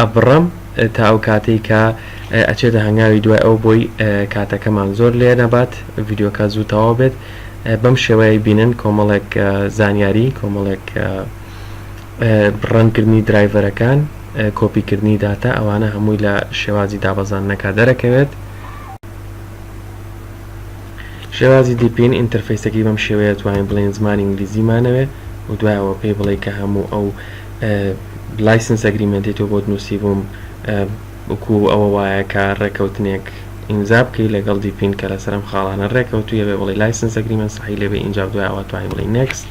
ئەبڕم تا ئەو کاتەی کە ئەچێتە هەنگاوی دوای ئەو بۆی کاتەکەمان زۆر لێ نەبات ڤیدیۆکە زوو تەواو بێت بەم شێوەیە بینن کۆمەڵێک زانیاری کۆمەڵێک ڕەنکردنی درایڤەرەکان کۆپیکردنی داتا ئەوانە هەمووی لە شێوازی دابەزاندنەکە دەرەکەوێت شێوازی دیپین ئینتەرفەیسەکەی بەم شێوەیە توانین بڵێین زمانی ئینگلیزی مانەوێ و دوای ئەوە پێی بڵێ کە هەموو ئەو لایسنس ئەگریمنتی تۆ بۆت نووسی بووم بکو ئەوە وایە کە ڕێکەوتنێک ئیمزا بکەی لەگەڵ دیپین کە لەسەرم خاڵانە ڕێکەوتویە بێ بڵی لایسنس ئەگریمنت سەحی لێبێ ئینجا دوایەوە توانین بڵی نێکست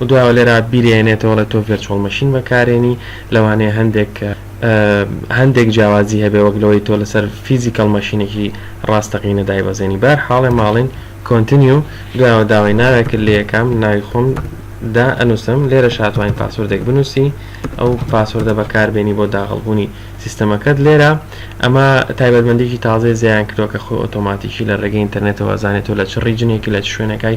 دوایەوە لێرە بیرێنێتەوە ڵێ تۆ ڤێرچۆڵ مەشین بەکارێنی لەوانەیە هەندێک هەندێک جیاوازی هەبێ وەک لەوەی تۆ لەسەر فیزیکەڵ مەشینێکی ڕاستەقینە دایبەزێنی بار حاڵێ ماڵین کۆنتنیو دوایەوە داوای ناوێکرد لێ یەکەم ناوی خۆم دا ئەنووسم لێرە شاتوانین پاسۆردێک بنووسی ئەو پاسۆردە بەکاربێنی بۆ داغڵبوونی سیستەمەکەت لێرە ئەمە تایبەتمەندێکی تازەی زیان کردوە کە خۆی ئۆتۆماتیکی لە ڕێگەی ئینتەرنێتەوە زانێت تۆ لە چ ڕیجنێکی لە چ شوێنەکەی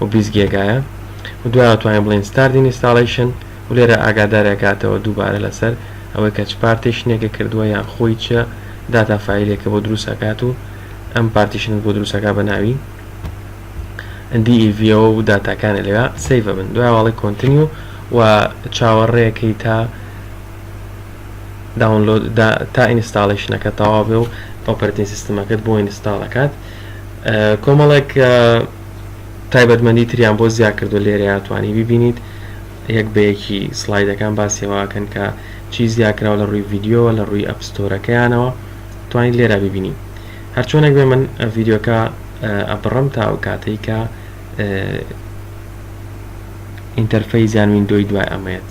و بیست گێگایە و دوای ئەتوانین بڵێین ستارت ئینیستاڵەیشن و لێرە ئاگادار ئەکاتەوە دووبارە لەسەر ئەوەی کە چ پارتێشنێکە کردووە یان خۆی چ داتا فایلێکە بۆ دروست ئەکات و ئەم پارتیشنت بۆ دروست ئەکات بە ناوی DEV ەوە و داتاکانە لەوێ سەیڤ ئەبن دوای واڵی کۆنتنیو و چاوەڕێیەکەی تا داونلۆد تا ئینستاڵیشنەکە تەواو بێ و ئۆپەرتین سیستمەکەت بۆ ئینستاڵەکات کۆمەڵێک تایبەتمەندی تریان بۆ زیا کردوە لێرەیا توانی بیبینیت یەک بە یەکی سلایدەکان باسی ئەوە ئەکەن کە چی زیا کراوە لە ڕوی ڤیدیۆوە لە ڕوی ئەپ ستۆرەکەیانەوە توانی لێرا بیبینی هەرچۆنێک بێ من ڤیدیۆکە ئەبڕم تا ئەو کاتەی کە ئینتەرفەی زیان ویندۆی دوای ئەمەیەت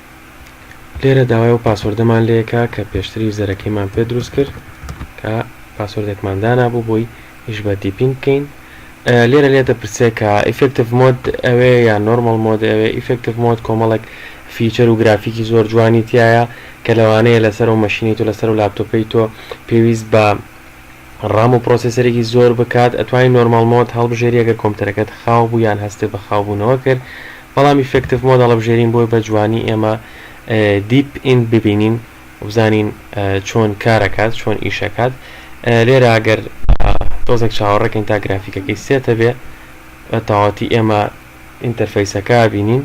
لێرە داوای ئەو پاسۆردەمان لێ کا کە پێشتر یوزەرەکەیمان پێ دروست کرد کە پاسۆردێکمان دانابوو بۆی ئیش بە دیپینگ بکەین لێرە لێ دەپرسێ کە ئیفکتیف مۆد ئەوێ یا نۆرمال مۆد ئەوێ ئیفکتیف مۆد کۆمەڵێک فیچەر و گرافیکی زۆر جوانی تایە کە لەوانەیە لەسەر و مەشینی تۆ لەسەر و لاپتۆپی تۆ پێویست بە ڕام و پرۆسێسەرێکی زۆر بکات ئەتوانی نۆرماڵ مۆد هەڵبژێری ئەگەر کۆمپتەرەکەت خاو بوو یان هەستت بە خاو بوونەوە کرد بەڵام ئیفێکتڤ مۆد هەڵەبژێرین بۆی بە جوانی ئێمە دیپ ئین ببینین وبزانین چۆن کارەکات چۆن ئیشەکات لێرە ئەگەر تۆزێک چاوەڕێکەین تا گرافیکەکەی سێتە بێ بە تەواتی ئێمە ئینتەرفەیسەکە بینین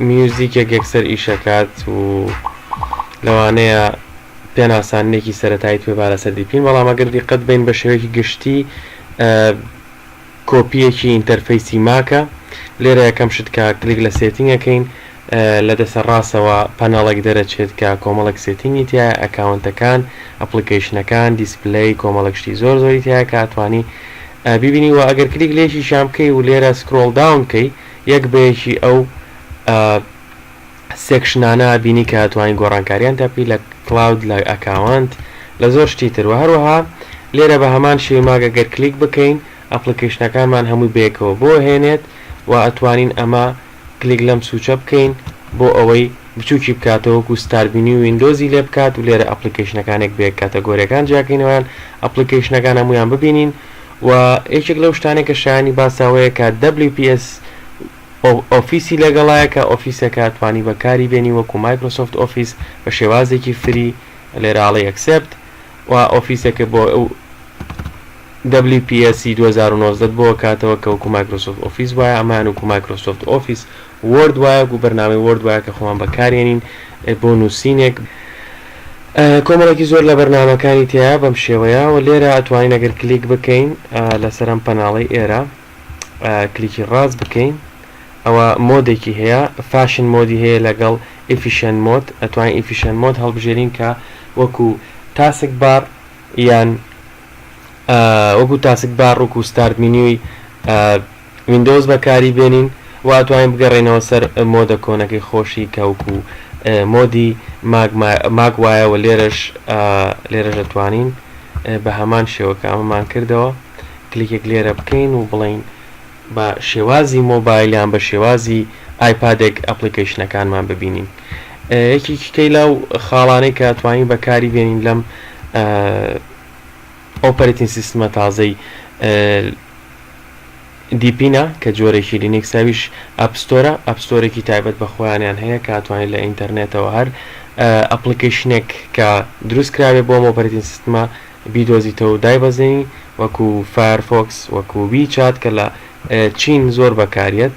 میوزیکێک یەکسەر ئیشەکات و لەوانەیە پێناسانێکی سەتایی توێ بارە سەر دیپین بەڵام ئەگەر دیقەت بین بە شێوەیەکی گشتی کۆپیەکی ئینتەرفەیسی ماکە لێرە یەکەم شت کە کلیک لە سێتینگەکەین لە دەسە ڕاستەوە پەناڵێک دەرەچێت کە کۆمەڵک سێتینگی تیا ئەکاونتەکان ئەپلیکیشنەکان دیسپلی کۆمەڵک شتی زۆر زۆری تیا کاتوانی بیبینی وە ئەگەر کلیک لێشیشان بکەی و لێرە سکرۆڵ داون کەی یەک بەیەکی ئەو سێکشنانە بینی کە توانین گۆڕانکاریان تاپی لە کلااود لە ئەکاوانت لە زۆر شتی تر و هەروەها لێرە بە هەمان شێوی ماگە گەر کلیک بکەین ئەپلیکیشنەکانمان هەمووی بێکەوە بۆ هێنێت و ئەتوانین ئەمە کلیک لەم سوچە بکەین بۆ ئەوەی بچوکی بکاتەوە وەکو ستار بینی و ویندۆزی لێ بکات و لێرە ئەپلیکەیشنەکانێک بەیەک کاتەگۆریەکان جیاکەینەوەیان ئەپلیکەیشنەکان هەمویان ببینین و یەکێک لەو شتانێک کە شایانی باساوەیە کە WPS ئۆفیسی لەگەڵایە کە ئۆفیسەکە توانی بەکاری بێنی وەکو مایکرۆسۆفت ئۆفیس بە شێوازێکی فری لێراڵی ئەکسپت و ئۆفیسەکە بۆ ئەو WPS ی دوو هەزار و نۆزدە ت بۆ کاتەوە کە وەکو مایکرۆسۆفت ئۆفیس وایە ئەمەیان وەکو مایکرۆسۆفت ئۆفیس وۆرد وایە وەکو بەرنامەی وۆرد وایە کە خۆمان بەکاریێنین بۆ نوسینێک کۆمەڵێکی زۆر لە بەرنامەکانی تیایە بەم شێوەیە و لێرە ئەتوانین ئەگەر کلیک بکەین لەسەر ئەم پەناڵەی ئێرە کلیکی ڕاست بکەین ئەوە مۆدێکی هەیە فاشن مۆدی هەیە لەگەڵ ئیفیشن مۆد ئەتوانین ئیفیشن مۆد هەڵبژێرین کە وەکو تاسک بار یان وەکو تاسک بار وەکو ستارت مینیوی ویندۆز بەکاری بێنین و ئەتوانین بگەڕێنەوە سەر مۆدە کۆنەکەی خۆشی کەوکو مۆدی ماگ وایەوە لێرەش لێرەش ئەتوانین بە هەمان شێوەکە ئەمەمان کردەوە کلیکێک لێرە بکەین و بڵین بە شێوازی مۆبایلیان بە شێوازی ئایپادێک ئەپلیکیشنەکانمان ببینین یەکیکەی لاو خاڵانەی کە توانین بەکاری بێنین لەم ئۆپەرەتین سیستمە تازەی دیپینە کە جۆرێکی لینیکسە ئەویش ئەپ ستۆرە، ئەپ ستۆرێکی تایبەت بە خۆیانیان هەیە کە ئەتوانیت لە ئینتەرنێتەوە هەر ئەپڵیکەیشنێک کە دروست کراوێت بۆ ئەم ئۆپەرەتین سیستمە بیدۆزیتەوە و دایبەزێنی وەکو فایەرفۆکس وەکو وی چات کە لە چین زۆر بەکاریەت.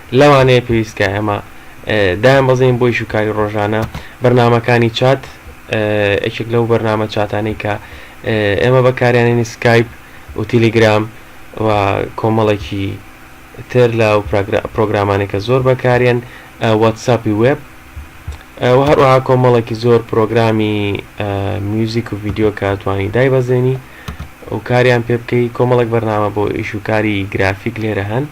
لەوانەیە پێویست بکات ئێمە دایانبەزێنین بۆ ئیش و کاری ڕۆژانە بەرنامەکانی چات یەکێک لەو بەرنامە چاتانەی کە ئێمە بەکاریانێنی سکایپ و تیلیگرام و کۆمەڵێکی تر لە و پرۆگرامانێکە زۆر بەکارێن واتساپی وێب و هەروەها کۆمەڵێکی زۆر پرۆگرامی میوزیک و ڤیددیو کە توانی دایبەزێنی و کاریان پێ بکەی کۆمەڵک بەرنامە بۆ ئیش و کاری گرافیک لێرە هەن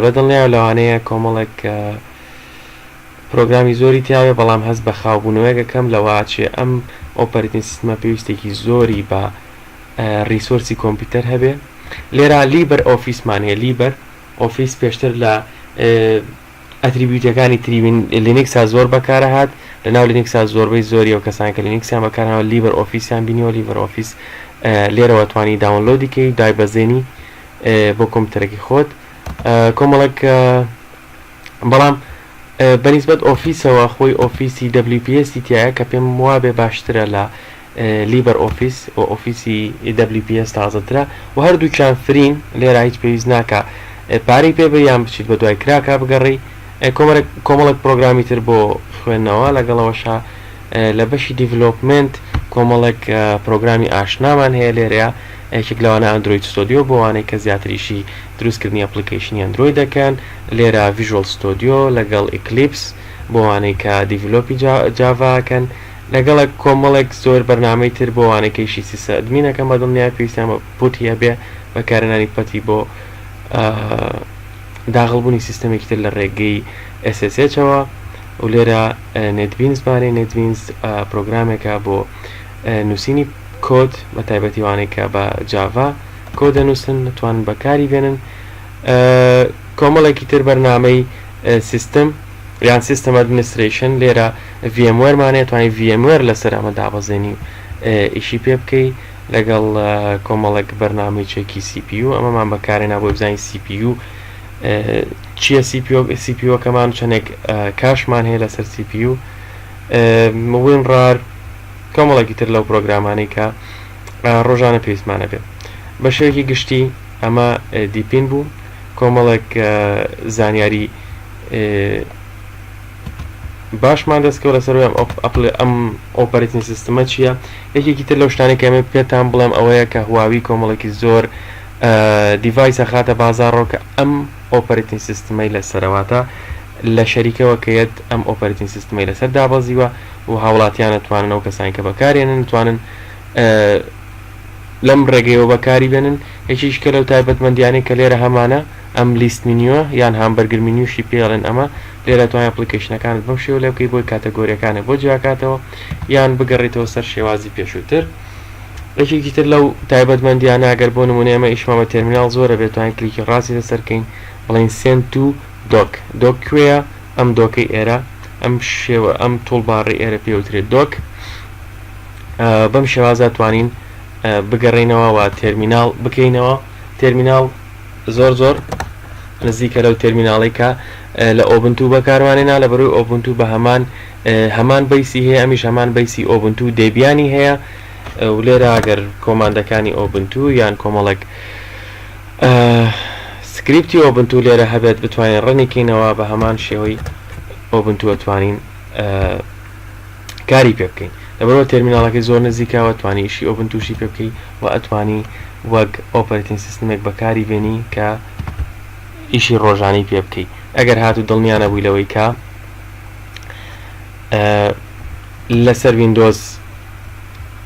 بە دڵنیایە لەوانەیە کۆمەڵێک پرۆگرامی زۆری تیابێت بەڵام هەست بە خاوبوونەوەیەک ئەکەم لەوە چیە ئەم ئۆپەرەتین سیستمە پێویستێکی زۆری بە ریسۆرسی کۆمپیوتەر هەبێ لێرا لیبەر ئۆفیسمان هەیە لیبەر ئۆفیس پێشتر لە ئەتریبیوتەکانی تری لینکسا زۆر بەکارە هات لە ناو لینکسا زۆربەی زۆری و کەسان کە لینکسیان بەکارەوە لیبەر ئۆفیسیان بینیەوە لیبەر ئۆفیس لێرەوە توانی داونلۆدیکەی دای بەزێنی بۆ کۆمپیوتەرەکەی خۆت کۆمەڵێک بەڵام بەنیسبەت ئۆفیسەوە خۆی ئۆفیسی WPS تایە کە پێم وابێ باشترە لە لیبەر ئۆفیس و ئۆفیسی WPS تازەترە و هەردووچان فرین لێرا هیچ پێویست ناکە پارەی پێ بەیان بچیت بە دوای کراکە بگەڕی کۆمەڵک پرۆگرامی تر بۆ خوێندنەوە لەگەڵەوەشە لە بەشی دیڤلۆپمنت کۆمەڵێک پرۆگرامی ئاشنامان هەیە لێرەیە یەکێک لەوانە ئەندرۆید ستۆدیۆ بۆ ئەوانەی کە زیاتر ئیشی دروست کردنی ئەپڵیکەیشنی ئەندرۆید دەکەن لێرە ڤیژۆڵ ستۆدیۆ لەگەڵ ئیکلیپس بۆ ئەوانەی کە دیڤلۆپی جاڤا ئەکەن لەگەڵک کۆمەڵێک زۆر بەرنامەی تر بۆ ئەوانەی کە ئیشی سیسە ئەدمین ئەکەن بە دڵنیای پێویستیان بە پوتی هەبێ بەکارهێنانی پەتی بۆ داغڵبوونی سیستەمێکی تر لە ڕێگەی SSH ەوە و لێرە نێتبینس بارەی نێتبینس پرۆگرامێکە بۆ نووسینی کۆد بە تایبەتی وانەی کە بە جاڤا کۆ دەنووسن نتوانن بەکاری بێنن کۆمەڵێکی تر بەرنمەی سیستم یان سیستم ئەدمنیستریشن لێرە VMوەرمانەیە توانانی VMوەر لەسەر ئەمە دابەزێنی و ئیشی پێ بکەی لەگەڵ کۆمەڵێک بەرنامی چێکی CPU ئەمەمان بەکارێ نابوو بزانین CPU چیە CPU CPU کەمان چەندێک کاشمان هەیە لەسەر CPU وینڕار کۆمەڵێکی تر لەو پرۆگرامانەی کە ڕۆژانە پێویستمانە بێت بە شێوەیەکی گشتی ئەمە دیپین بوو کۆمەڵێک زانیاری باشمان دەستکەوت لەسەر ئەم ئەپل ئەم ئۆپەرتین سیستمە چییە یەکێکی تر لەو شتانی کەمێ پێتان بڵێم ئەوەیە کە هواوی کۆمەڵێکی زۆر دیڤایسە خاتە بازارڕۆکە ئەم ئۆپەرتین سیستمەی لەسەرەوەتە لە شەریکەوە کە یەت ئەم ئۆپەرەتین سیستمەی لەسەر دابەزیوە و هاوڵاتیان ئەتوانن ئەو کەسانی کە بەکارێنن توانن لەم ڕێگەیەوە بەکاری بێنن یەکیش کە لەو تایبەت مندیانەی کە لێرە هەمانە ئەم لیست مینیوە یان هامبەرگر مینیوشی پێڵێن ئەمە لێرە توانای ئەپلیکیشنەکانت بەم شێو لێ بکەی بۆی کاتەگۆریەکانە بۆ جیاکاتەوە یان بگەڕیتەوە سەر شێوازی پێشووتر یەکێکی تر لەو تایبەت مندیانە ئەگەر بۆ نمونە ئێمە ئیشمان بە تەرمینال زۆرە بێتوانین کلیکی ڕاستی لەسەرکەین بڵین سێن تو دۆک، دۆک کوێیە؟ ئەم دۆکەی ئێرە، ئەم شێوە، ئەم توڵباڕی ئێرە پێ وترێت دۆک. بەم شێوازە توانین بگەڕینەوە و تێرمینال بکەینەوە تێرمینال زۆر زۆر نزیکە لەو تێرمیناڵی کە لە ئۆبنتو بەکاروانێنا لە بەروی ئۆبنتو بە هەمان هەمان بەیسی هەیە ئەمیش هەمان بەیسی ئۆبنتو دەیبیانی هەیە و لێرە ئەگەر کۆماندەکانی ئۆبنتو یان کۆمەڵێک سکریپتی ئۆبنتو لێرە هەبێت بتوانین ڕنیکەینەوە بە هەمان شێوەی ئۆبنتووە توانین کاری پێ بکەین لەبەرەوە تەرمینالەکەی زۆر نزیکاوە توانی ئیشی ئۆبن تووشی پێ بکەی و ئەتوانی وەک ئۆپەرتین سیستمێک بەکاری بێنی کە ئیشی ڕۆژانی پێ بکەی ئەگەر هاتو دڵنیانە بووی لەوەی کە لەسەر وینندۆز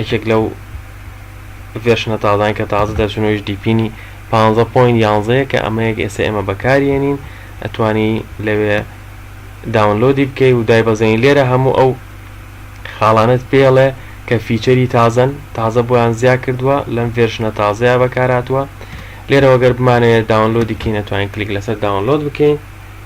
یەکێک لەو ڤێرشنە تازانە کە تازە دەرچوون ئەویش دیپینی پانزە پۆینت یانزە یە کە ئەمەیە کە ئێستا ئێمە بەکاری یەنین ئەتوانی لەوێ داونلۆدی بکەی و دایبەزێنی لێرە هەموو ئەو خاڵانەت پێ ئەڵێ کە فیچەری تازەن تازە بۆیان زیا کردووە لەم ڤێرشنە تازەیە بەکارهاتووە لێرەوە گەر بمانەوێت داونلۆدی کەین ئەتوانین کلیک لەسەر داونلۆد بکەین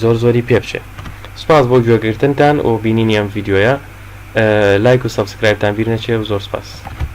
زۆر زۆری پێ بچێ سپاس بۆ گوێگرتنتان و بینینی ئەم ڤیددیویە لایک و سەبسکرایبتان بیر نەچێ و زۆر سپاس.